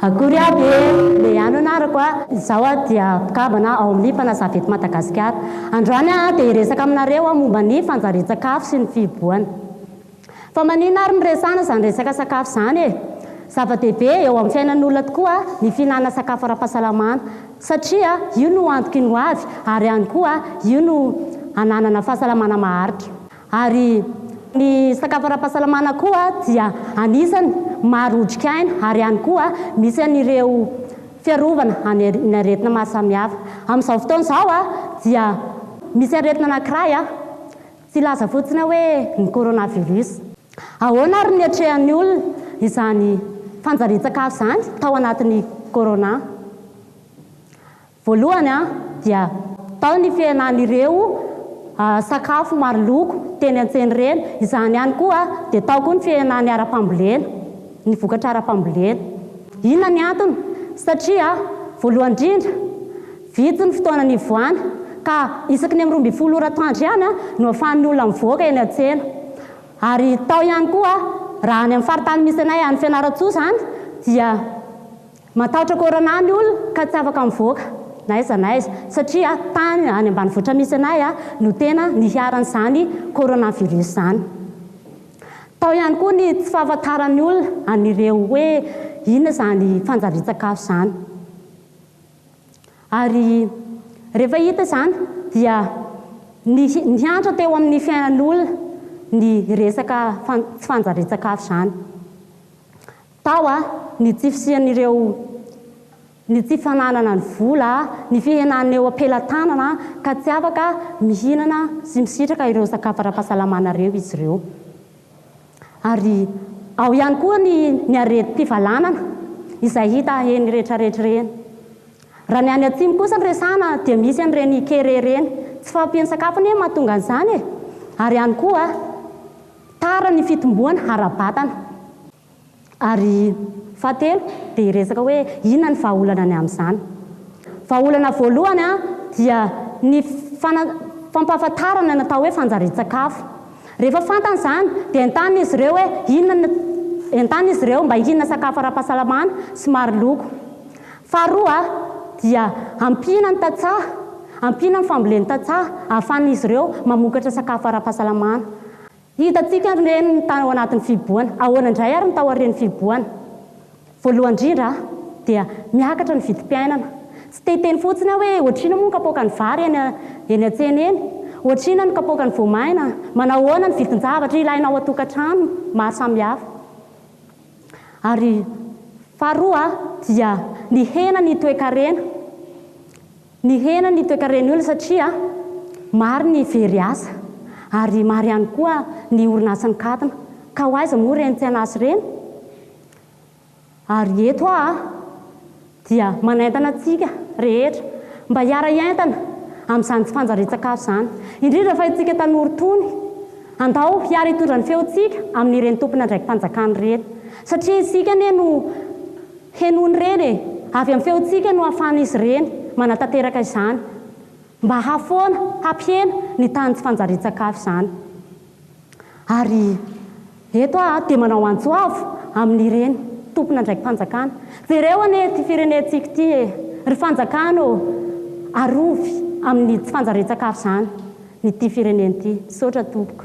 Akory aby e! Lehy any anarako a! Izaho a dia mpikambana ao amin'ny Fanazava eto Madagasikara. Androany aho dia hiresaka aminareo momba ny fanjarian-tsakafo sy ny fihibohana. Fa maninona ary no resahana izany resaka sakafo izany e? Zava-dehibe eo amin'ny fiainan'ny olona tokoa ny fihinanana sakafo ara-pahasalamana satria io no antoky ny ho avy ary ihany koa io no hananana fahasalamana maharitra. Ary ny sakafo ara-pahasalamana koa dia anisany maro otrikaina ary ihany koa misy an'ireo fiarovana amin'ny aretina maro samihafa. Amin'izao fotoana izao dia misy aretina anankiray Tsy hilaza fotsiny aho hoe ny coronavirus. Ahoana ary ny niatrehan'ny olona izany fanjarian-tsakafo izany tao anatin'ny corona? Voalohany dia tao ny fihenan'ireo sakafo maro loko teny an-tsena ireny. Izany ihany koa dia tao koa ny fihenan'ny ara-pambolena, ny vokatra ara-pambolena. Inona ny antony? Satria voalohany indrindra, Vitsy ny fotoana nivoahana ka isaky ny amin'ny roa ambin'ny folo ora atoandro ihany no ahafahan'ny olona mivoaka eny an-tsena. Ary tao ihany koa, raha any amin'ny faritany misy anay any Fianarantsoa izany dia matahotra corona ny olona ka tsy afaka mivoaka na aiza na aiza satria tany any ambanivohitra misy anay no tena niharan'izany coronavirus izany. Tao ihany koa ny tsy fahafantaran'ny olona an'ireo hoe inona izany fanjarian-tsakafo izany. Ary rehefa hita izany dia nihantra teo amin'ny fiainan'olona ny resaka tsy fanjarian-tsakafo izany. Tao ny tsy fisian'ireo, ny tsy fananana ny vola, ny fihenan'ny eo am-pelatanana ka tsy afaka mihinana sy misitraka ireo sakafo ara-pahasalamana ireo izy ireo. Ary ao ihany koa ny ny aretim-pivalanana izay hita eny rehetrarehetra ireny. Raha ny any atsimo kosa no resahana dia misy an'ireny kere ireny. Tsy fahampian'ny sakafo anie no mahatonga an'izany e! Ary ihany koa tara ny fitomboana ara-batana. Ary fahatelo dia hiresaka hoe inona ny vahaolana ny amin'izany. Vahaolana voalohany dia ny fana, fampahafantarana ny atao hoe fanjarian-tsakafo. Rehefa fantany izany dia entanina izy ireo hoe inona no, entanina izy ireo mba hihinana sakafo ara-pahasalamana sy maro loko. Faharoa dia ampiana ny tantsaha, ampiana ny fambolen'ny tantsaha ahafahan'izy ireo mamokatra sakafo ara-pahasalamana. Hitantsika ny reny ny tao anatin'ny fihibohana. Ahoana indray ary ny tao aorian'ny fihibohana? Voalohany indrindra dia miakatra ny vidim-piainana. Tsy te hiteny fotsiny aho hoe ohatrina moa ny kapoakan'ny vary eny eny an-tsena eny? Ohatrina ny kapoakan'ny voamaina? Manao ahoana ny vidin-javatra ilaina ao an-tokantrano maro samihafa? Ary faharoa dia nihena ny toe-karena. Nihena ny toekaren'ny olona satria maro ny very asa ary maro ihany koa ny orinasa nikatona. Ka ho aiza moa ireny mpianasa ireny? Ary eto aho dia manaintana antsika rehetra mba hiara-hiaintana amin'izany tsy fanjarian-tsakafo izany, indrindra fa isika tanora itony. Andao hiara hitondra ny feontsika amin'ireny tompon'andraiki-panjakana ireny satria isika anie no. Henon'ireny e! Avy amin'ny feontsika no ahafahan'izy ireny manatanteraka izany. Mba hahafoana, hampihena ny tahan'ny tsy fanjarian-tsakafo izany. Ary eto aho dia manao antso avo amin'ireny tompon'andraiki-panjakana. Jereo anie ity firenentsika ity e! Ry fanjakana ô! Arovy amin'ny tsy fanjarian-tsakafo izany. ny ty firenena ty. Misaotra tompoko.